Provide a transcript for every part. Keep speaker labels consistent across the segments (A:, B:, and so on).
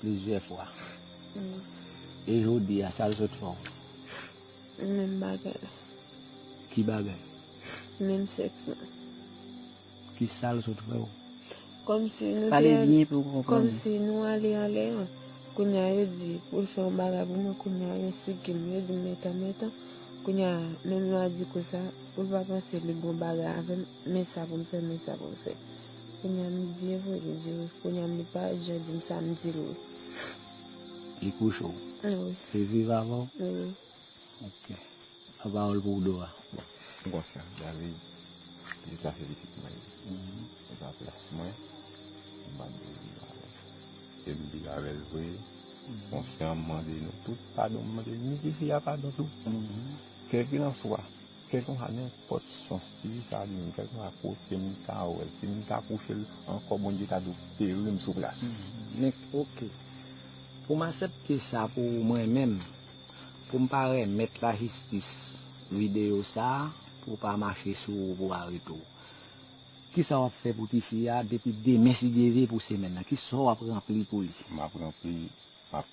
A: Plizyè fwa.
B: E jodi a sa l sot fè w?
A: Menm bagay la. Ki
B: bagay? Menm
A: sèks lan.
B: Ki sa l sot fè w? Kòmsi
A: nou te. Pale byen pou m
C: konprann. Kòmsi nou
A: ale anlè an. Kounye a yo di pou l fè yon bagay pou mwen kounye a yo sigi m yo di m metan metan. Kounye a menm lwa di kou sa pou l pa panse li bon bagay avè m men sa pou m fè men sa pou m fè. Kounya m di vre m di wi. Kounya m li pa jan di m sa m di l wi.
B: Li kouche w? Wi. Li
A: viv avè w?
B: Wi.
A: Ok. Yon
B: pawòl pou w Dora? M konsyan
D: David li ka se pitit mwen li. Se pa plas mwen m pa dwe viv avè l. E m viv avè l vre. M konsyan m mande nou tout padon m mande ni tifi a padon tou. Kèlkilanswa. Kèlkenwa nenpòt sans ti sa a genyen, kèlkenwa kote m ta wè l, si m ta kouche l ankò Bondye ta dwe peri m sou plas. Nèk, Ok.
B: Pou m asepte sa pou ou mwen menm, pou m pa remèt lajistis videyo sa a pou w pa mache sou ou pou arete w, kisa w ap fè pou tifi a depi demen si Dye ve pou semèn nan? Ki sò w ap ranpli pou li? M ap ranpli,
D: m ap.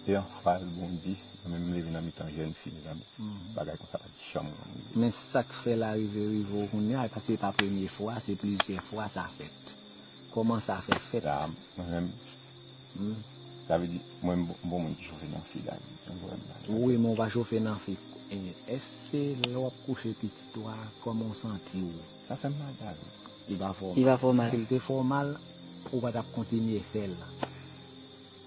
D: Se yon fraz bon di, mwen menm m leve nan mitan jèn fi mezanmi, bagay konsa pa t janm konn rive. Men sak fè
B: la rive rive w kounya e paske e pa premye fwa se plizyè fwa sa fèt. Kòman sa fè fèt? La mwen menm
D: sa vle di mwen m bon moun ki chofe nan fi la ui, ou wè m la. Wi men
B: w pa chofe nan fi. Èske lè w ap kouche pitit ou a kòman w santi w? Sa fè m mal la
D: ui. Li pa
B: fè w mal. Si l te fè
C: w mal
B: ou pa t ap kontinye fè l.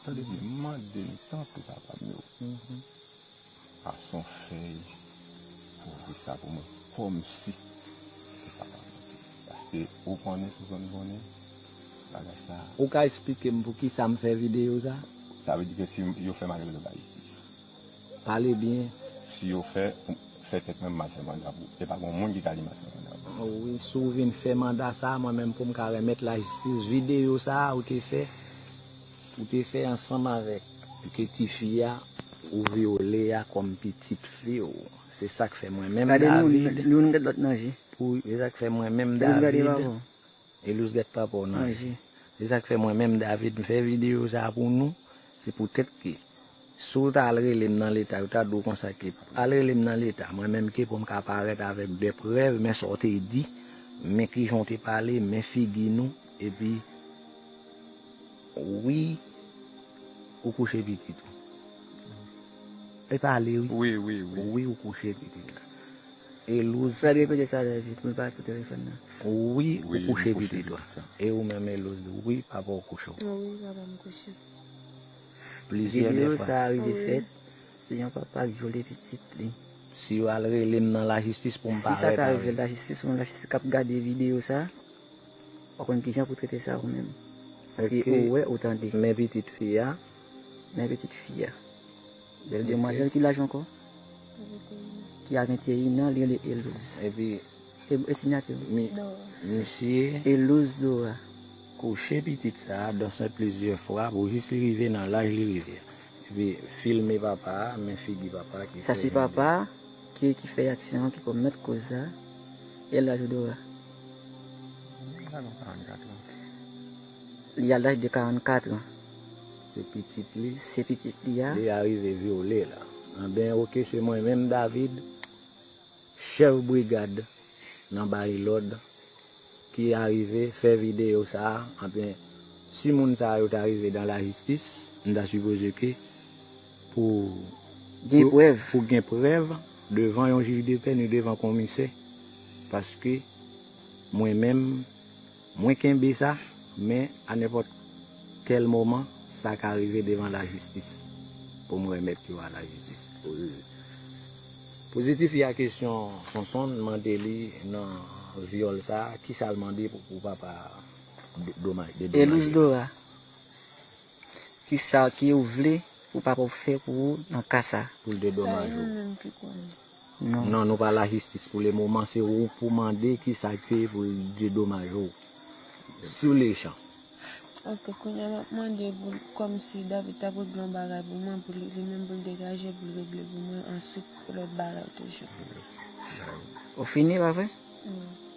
D: Tande byen, m mande n tanpri papa m yo, pase on fèy pou ouvri sa pou mwen kòmsi se sa pa manke. Paske ou konnen sou zòn konnen bagay sa. Ou ka esplike
B: m pou kisa m fè videyo sa? Sa vle di ke si
D: yo fè m ale mete bay jistis. Pale byen.
B: Si yo fè,
D: fè tèt mwen m mal fè manda pou. E pa gon moun ki ka di m al fè manda pou. O wi, si w vin fè
B: manda sa, mwen menm pou m ka remèt lajistis videyo sa a ou te fè. Ou te fè ansanm avèk ke tifi a ou vyole a kòm pitit fi w. Se sa k fè mwen menm David.
C: Pou Se sa k fè mwen
B: menm David. Elouse gade papa w nan je. Se sa k fè mwen menm David m fè videyo sa a pou nou. Se poutèt ke si w ta al rele m nan leta, yo ta di w konsa ke, Al rele m nan leta, mwen menm ke pou m ka parèt avèk de prèv, men sa w te di, men kijan w te pale, men figi nou, epi. Wi ou kouche pitit ou. Li pale wi. Wi ou kouche pitit la. Elouse. Map repete sa trè vit.
C: Mwen pa sou telefòn nan. Wi ou
B: kouche pitit ou. E ou menm Elouse. Wi papa ou kouche ou. Wi papa m kouche. Plizyè de fwa. Video sa
C: rive fèt. Se yon papa k vyole pitit li. Si yo al
B: rele m nan lajistis
C: pou
B: m
C: parèt avèl. Si sa ta rive lajistis ou menm lajistis
B: kap
C: gade video sa. Ou konn kijan pou trete sa ou menm. Paske ou wè ou tande.
B: Men
C: pitit fi a.
B: Men pitit
C: fi a. Bèl demwazèl ki laj ankò? Ki a 21 an li rele Elouz. Epi.
B: E sinyati
C: l? Misye.
B: Elouz Dora.
C: Kouche
B: pitit sa a dan sen plizyè fwa pou jis li rive nan laj li rive a. Epi filme papa a men figi papa a ki. Sa se papa a ki
C: fè aksyon an ki komèt koz sa. E laj ou Dora? Li a laj de 44 an. Se pitit
B: li. Se pitit li a. Li
C: arive vyole
B: la. Anben ok se mwen menm David, chèf brigad nan Barilòd ki arive fè videyo sa a. Anben si moun sa yo ta rive dan lajistis, m ta sipoze ke pou
C: gen prèv
B: devan yon jij depè ni devan konmisè. paske mwen menm mwen kenbe sa men a nenpòt kèl moman sa ka rive devan lajistis poum remèt yo a lajistis Pozitif ya kesyon Sonson mande li nan vyòl sa kisal mande pou papa domaj dedomaj yo. Elizdora.
C: Kisa ki ou vle pou papa ou fè pou ou nan ka sa? Pou l dedomaj
B: ou?
C: Non, nou pa
B: lajistis pou le moman, se ou pou mande kisa ki pou l dedomaj ou. Sou le chan. Ok,
A: kounya map mande pou kòm si David ta pou regle yon bagay pou mwen, pou li menm pou l degaje pou l regle pou mwen answit pou lòt bagay toujou.
C: Ou fini pa vre? Wi.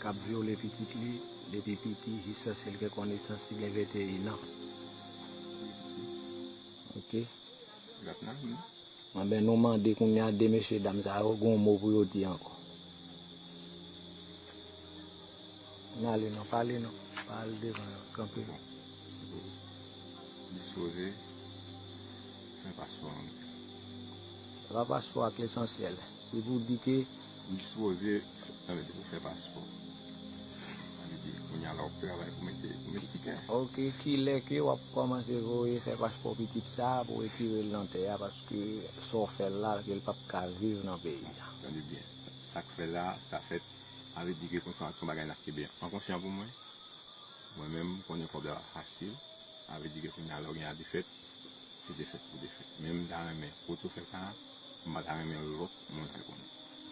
B: k ap vyole pitit li depi piti jiskaske l gen konesans li gen 21 an. Ok. Anben nou mande kounye a 2 mesye dam sa yo gen yon mo pou yo di ankò. N ale non, pale non. Pa al devan yo, kanpe. Bon, se
D: pou dispoze fè paspò an.
B: Se pa paspò a k lesansyèl. Se pou di ke. Dispoze.
D: Sa vle di ou fè paspò. Sa vle di kounya la wap travay pou mete pou mete tikè. Ok kilè
B: ke wap kòmanse voye fè paspò pitit sa pou retirel nan tè a paske sa w fèl la kel pap ka viv nan peyi a. Tande byen
D: sak fè la sa fèt sa vle di ke konsa son bagay nap kenbe an konsyan pou mwen. Mwen menm m konnen kòb la pa fasil sa vle di ke kounya lè w gen a defèt se defèt pou defèt men m ta renmen pou w tou fè sa m pa ta renmen lòt moun fè konn.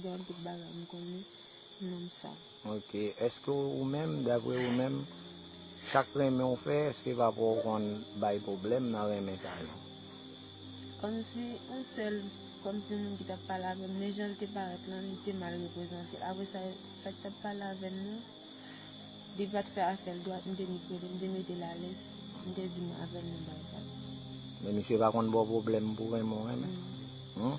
A: Gen anpil bagay m konnen sou nonm sa. Ok eske
B: ou menm dapre ou menm sak renmen w fè eske papa w konn bay pwoblèm nan renmen sa yo?
A: Kòmsi yon sèl kòmsi moun ki tap pale avèm men janl te parèt lan li te mal reprezante apre sa sak tap pale avèm nan li pat fè afèl dwat m te vin kwèl m te metel alèz m te vin avèl nan bagay sa. Men
B: misye pa konn baw pwoblèm pou renmen w renmen? Non.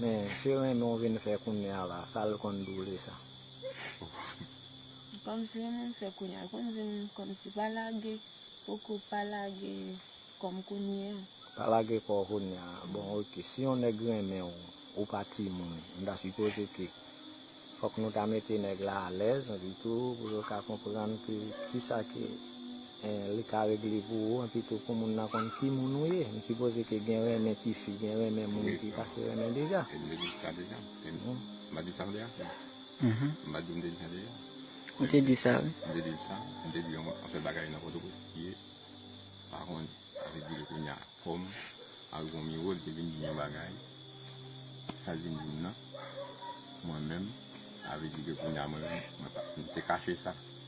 B: Men se renmen w vin fè kounye a la, sa l konn boule sa.
A: Kòmsi renmen m fè kounye a, l konn di m kòmsi pa lage po kò w, pa lage kò m kounye a. Pa lage kò w
B: kounye a, bon ok, si yon nèg renmen w, ou pa timoun, m ta sipoze ke fòk nou ta mete nèg la alèz li tou pou yo ka konprann ke kisa ke. Li ka regle pou ou epi tou pou moun nan konn ki moun ou ye. M sipoze ke gen renmen ti fi, gen renmen moun ki pase renmen deja. E m te di sa deja.
D: M pa di sa m vle a fè. M pa di m te di sa deja. Ou te
C: di sa wi. M te di sa. M te di
D: yon anpil bagay nan Pòtoprens ki ye pa konn avèk di ke kounya kòm avèk yon miwo li te vin di m yon bagay. Sa li vin di m nan mwen menm sa vle di ke kounya mwen menm mwen pa m te kache sa.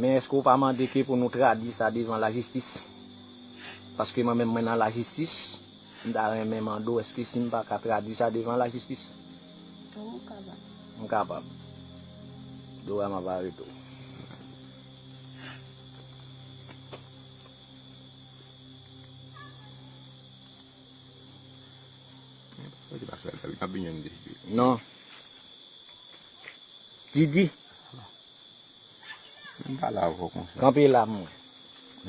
B: Men eske ou pa mande ke pou nou tradwi sa devan lajistis? Paske mwen menm mwen nan lajistis, m ta renmen mande w eske si m pa ka tradwi sa devan lajistis?
A: Tou ou kapab.
B: M kapab. Dora m ap arete w. Non. Didi. Kanpe la mwen.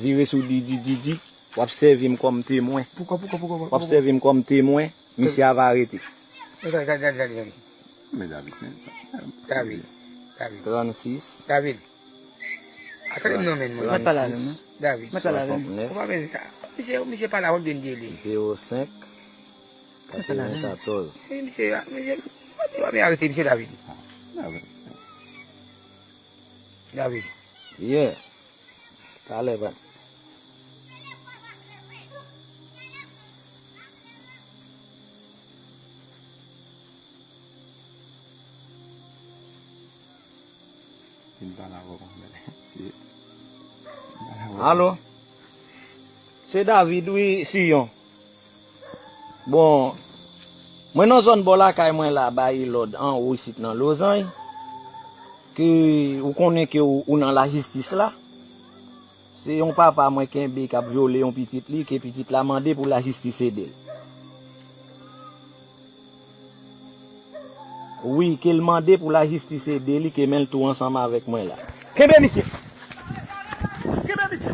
B: Vire sou Didi Didi w ap sèvi m kòm temwen W ap
C: sèvi m kòm
B: temwen Misye a va rete.
E: Gade. Yeah.
B: Talè vre. Vin pa la vre. Alo. Se David wi Sion. Bon. Mwen nan zòn bò lakay mwen la ba Elòd anwo isit nan Lozany ke ou konnen ke ou nan lajistis la. Se yon papa mwen kenbe kap vyole yon pitit li ke pitit la mande pou lajistis ede l. Wi, ke l mande pou lajistis ede li ke men l tou ansanm avèk mwen la. Kenbe misye! Kenbe misye!